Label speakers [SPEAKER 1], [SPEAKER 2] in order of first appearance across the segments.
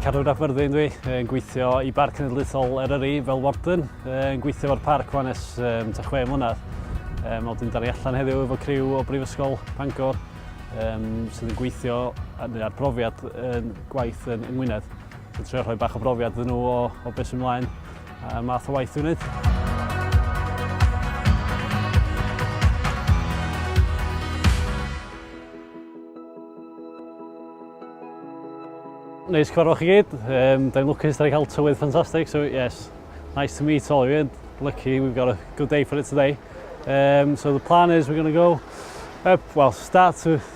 [SPEAKER 1] Cadwyn ap Myrddin dwi, yn gweithio i Barc Cenedlaethol Eryri fel Warden, yn gweithio fo'r parc fan es um, ta chwe mlynedd. Um, Oedden ni allan heddiw efo criw o Brifysgol Pangor um, sydd yn gweithio ar brofiad yn gwaith yn, yng Ngwynedd. Dwi'n trio rhoi bach o brofiad iddyn nhw o, o beth sy'n mlaen a math o waith dwi'n gwneud. Neis cyfarfod chi gyd. Um, da ni'n lwcus, da ni'n cael tywydd ffantastig, so yes, nice to meet all of you. Lucky we've got a good day for it today. Um, so the plan is we're going to go up, well, start with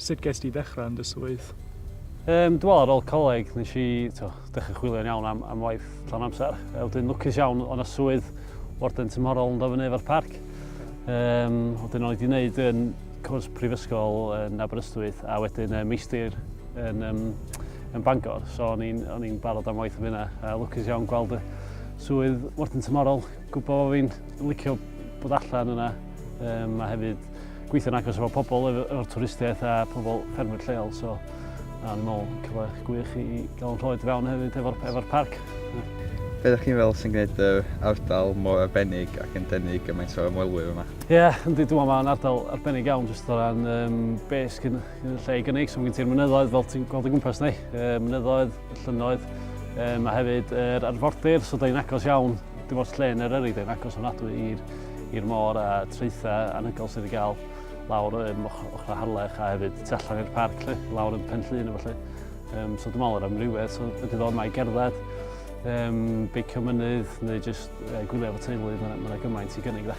[SPEAKER 1] Sut gest ti ddechrau yn dy swydd? Um, dwi'n meddwl ar ôl coleg, nes i dechrau chwilio'n iawn am, am waith llawn amser. E, wedyn lwcus iawn, o'n swydd warden tymhorol yn dofyn efo'r parc. Um, wedyn o'n i wedi gwneud yn cwrs prifysgol yn Aberystwyth a wedyn uh, meistr yn, um, yn Bangor. So o'n i'n barod am waith am hynna. A lwcus iawn gweld y swydd warden tymhorol, gwybod bod fi'n licio bod allan yna. Um, a hefyd Gweithio'n agos efo pobl o'r twristiaeth a pobl ffermwyr lleol, so a ni'n meddwl cyfle gwych i gael yn rhoed fewn hefyd efo'r efo parc. Be ydych chi'n fel sy'n gwneud yr ardal mor arbennig ac yn denu gymaint o ymwelwyr yma? Ie, yeah, yndi, dwi'n meddwl mae'n ardal arbennig iawn jyst o ran um, bes gyn, gyn lle i gynnig, so mae gen ti'r mynyddoedd fel ti'n gweld o gwmpas ni, uh, mynyddoedd, llynnoedd, um, a hefyd yr er arfordir, so da ni'n agos iawn Dim ots lle yn Eryri, dyn agos ofnadwy i'r i'r môr a traethau anhygoel sydd wedi cael lawr yn ochr Harlech a hefyd tu allan i'r parc lle, lawr yn Pen Llun efallai. Um, so dwi'n meddwl yr amrywiaeth so, ydy ddod mae gerdded, um, beicio mynydd neu jyst uh, gwylio efo teulu, mae'n ma gymaint i gynnig dda.